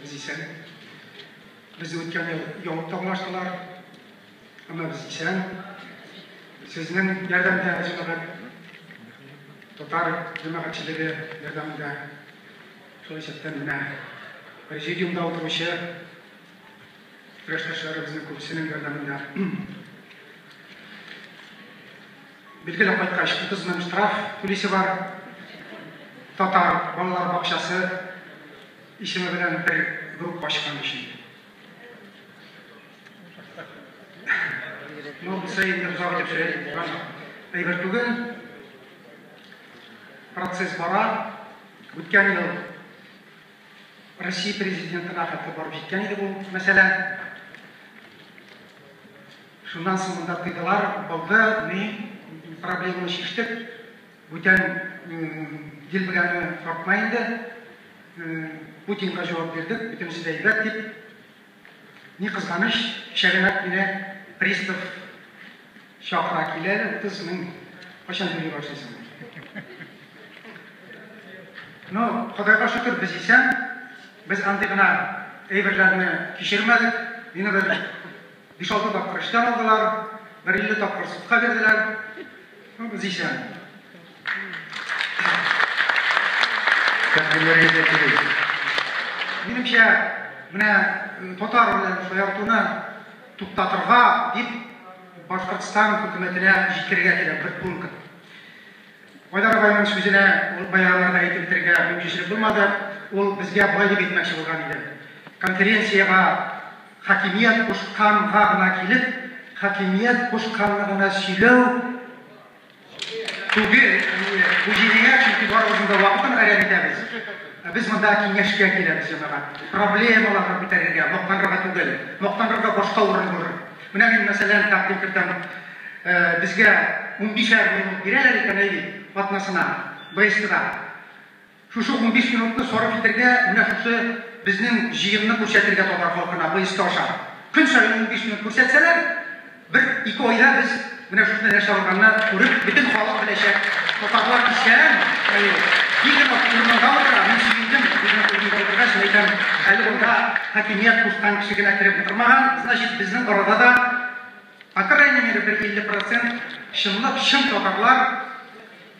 Без исән. Без үткән ел ябып табынаштылар. Әмма без исән. Сезнең ярдәмдә җәмәгать татар җәмәгатьчелеге ярдәмендә шул исәптән менә президиумда утыручы Көрәштәшләребезнең күбесенең ярдәмендә. Билгеле кайткач, 30 мең штраф түлисе бар. Татар балалар бакчасы Исеме белән бер группа ачкан өчен. Ну, монысы инде озак итеп сөйләп булган әйбер түгел. Процесс бара. Үткән ел Россия президентына хәтле барып җиткән иде бу мәсьәлә. Шуннан соң монда тыйдылар, булды, ни проблеманы чиштек. Бүтән ел белән тартма инде. Путинга җавап бирдек, бөтенесе дә әйбәт дип. Ни кызганыч, кичәгенәк мине пристав чакыра килә, 30 мең кайчан түли башлыйсың? Ну, Ходайга шөкер, без исән, без андый гына әйберләрне кичермәдек. Мине бер Биш-алты тапкыр эштән алдылар, бер илле тапкыр судка бирделәр. Ну, без исән. Тәкъдимнәргә дә килик. Минемчә, менә э, татар белән шаяртуны туктатырга дип Башкортстан хөкүмәтенә җиткерергә кирәк бер пункт. Айдар агайның сүзенә ул баягыларда әйтеп бетерергә мөмкинчелек булмады, ул безгә болай дип әйтмәкче булган иде, конференциягә хакимият кушканга гына килеп, хакимият кушканны гына сөйләү түгел, бу җинаять, чөнки барыбызның да вакытын гарәм итәбез. Без монда киңәшкә киләбез, җәмәгать, проблемаларны күтәрергә, мактанырга түгел, мактанырга башка урын булыр. Менә мин, мәсәлән, тәкъдим кертәм, безгә унбишәр минут бирәләр икән, әйдик, атнасына, БСТда. Шушы унбиш минутны сарыф итәргә, менә шушы безнең җыенны күрсәтергә татар халкына БСТ аша. Көн саен унбиш минут күрсәтсәләр, бер-ике айда без Менә шушы нәрсә ясалганны күреп, бөтен халык беләчәк, татарлар исән, әйе, бигрәк төрмәдә утыра, мин сөендем, бигрәк төрмәдә утыргач, мин әйтәм, әле монда хакимият кушкан кеше генә кереп утырмаган, значит, безнең арада да, по крайней мере, бер 50 процент чынлап чын татарлар,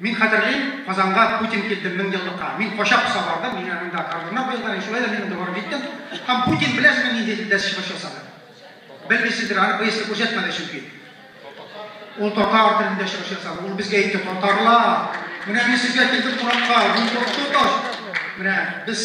Мин хәтерлим, Казанга Путин килде меңьеллыкка. Мин кача поса бардым, мин анда кордоннар куелган, шулай да мин анда барып җиттем. Һәм Путин беләсезме нинди дилдәс чыгыш ясады? Белмисездер, аны БСТ күрсәтмәде чөнки. Ул татар телендә чыгыш ясады. Ул безгә әйтте, татарлар, менә мин сезгә килдем кунакка, мин куркыту таш. Менә без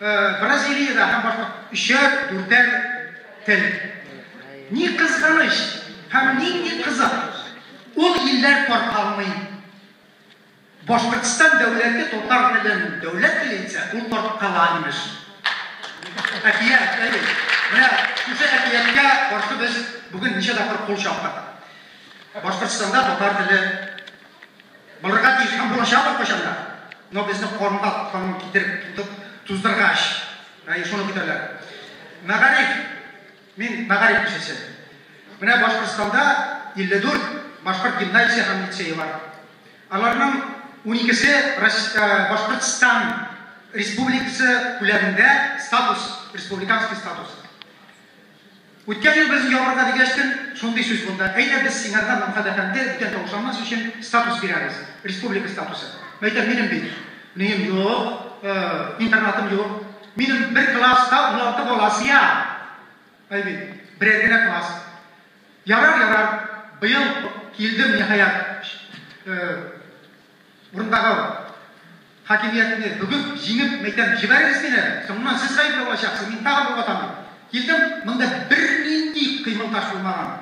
Бразилиядә һәм башка өчәр, дүртәр тел. Ни кызганыч һәм нинди кызык, ул илләр таркалмый. Башкортстан дәүләте татар телен дәүләт теле итсә, ул таркала, имеш. Әкият, әйе. Менә шушы әкияткә каршы без бүген ничә тапкыр кул чаптык. Башкортстанда татар теле Булырга тиеш һәм булачак ул кайчан да. Но безне корымга корым китереп тотып, туздыргач, әй, шуны көтәләр. Мәгариф, мин мәгариф кешесе. Менә Башкортстанда 54 башкорт гимназиясе һәм лицее бар. Аларның уникесе Башкортстан Республикасы күләмендә статус, республиканский статус. Үткән ел без ябырга дигәч тел шундый сүз булды, әйдә без сиңарга Мамхат әфәнде бүтән тавыш алмас өчен статус бирәбез, республика статусы. Мәйтәм, минем бит нием юк, интернатым юк, минем бер класста уналты бала сыя. Ай бит, берәр генә класс. Ярар, ярар, быел килдем, ниһаять. Урындагы хакимиятне бүген җиңеп мәйдан җибәрегез мин әле, соңыннан сез гаепле булачаксыз, мин тагын бер ватан дип килдем, монда бернинди кыймыл таш булмаган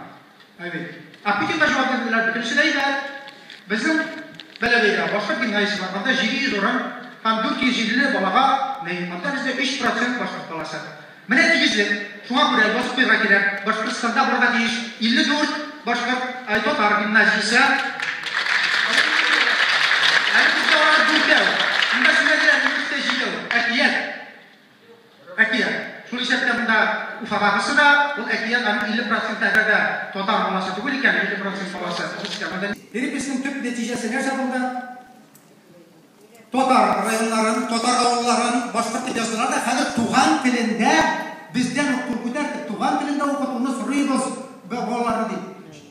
бит. Ә Путинга җавап бирделәр, бөтенесе дә әйбәт. Безнең Бәләбәйдә башка гимназиясе бар, анда 700 урын һәм 450 балага мәет, анда бездә 3 процент башкорт баласы. Менә тигезлек. Шуңа күрә язып куярга кирәк, Башкортстанда булырга тиеш 54 башкорт, ай, татар гимназиясе. Әле бездә алар дүртәү. Монда сөйләделәр, егеткә җидәү. Әкият. Әкият. Шул исәптә монда Уфадагысы да, ул әкият, аның 50 проценты әгәр дә татар баласы түгел икән, 50 процент баласы русский, монда ни? Переписьнең төп нәтиҗәсе нәрсә булды? Татар районнарын, татар авылларын башкортча языла да хәзер туган телендә бездән ук кул күтәрде, туган телендә укытуны сорыйбыз балаларны дип.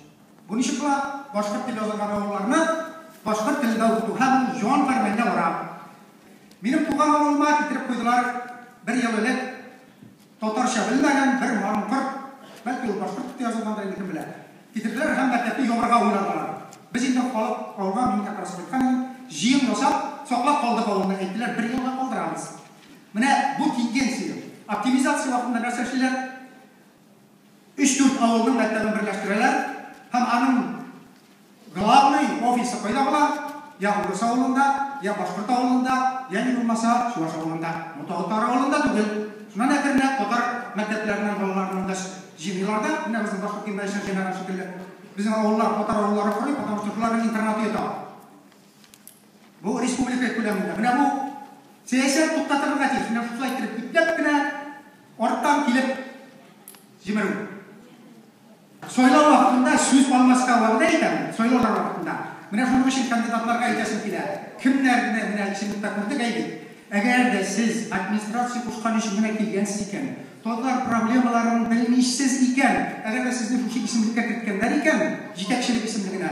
Бу ничек була? Башкорт дип язылган авылларны башкорт телендә укыту һәм ул җан пәрмәненә бара. Минем туган авылыма китереп куйдылар бер ел элек Татарча белмәгән бер маңкорт, бәлки ул башкорт дип тә язылгандыр инде, кем белә, китерделәр һәм мәктәпне ябарга уйладылар. Без инде халык авырган, мин как раз кайткан идем, җыен ясап, саклап калдык авылны, әйттеләр, бер елга калдырабыз. Менә бу тенденция. Оптимизация вакытында нәрсә эшлиләр? Өч-дүрт авылның мәктәбен берләштерәләр һәм аның главный офисы кайда була? Я урыс авылында, я башкорт авылында, яни булмаса чуваш авылында. Бу тагы татар авылында түгел. Шуннан әкренләп татар мәктәпләреннән балаларны монда җыйныйлар да, менә безнең башкорт гимназиясенә җыйнаган шикелле, безнең авыллар татар авылларын корый, потому что шуларның интернаты ята. Бу республика күләмендә. Менә бу сәясәт туктатылырга тиеш. Менә шулай иттереп ипләп кенә арттан килеп җимерү. Сайлау вакытында сүз алмаска вәгъдә итәм, сайлаулар вакытында. Менә шуның өчен кандидатларга әйтәсем килә, кемнәрне менә исемлеккә күрдек әйе. Әгәр дә сез администрация кушкан өчен генә килгәнсез икән, татар проблемаларын белмисез икән, әгәр дә сезне шушы исемлеккә керткәннәр икән, җитәкчелек исемлегенә,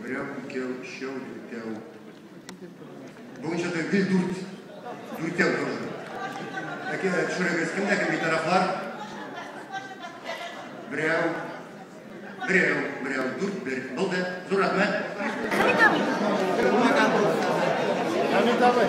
Берәү, икәү, өчәү, дүртәү. Бүгенчә дә гел дүрт. Дүртәү тоже. Әкә төшерегез, кемдә кем битарафлар? Берәү, берәү, берәү, дүрт, бер. Булды. Зур рәхмәт. Хәмит абый. Хәмит абый.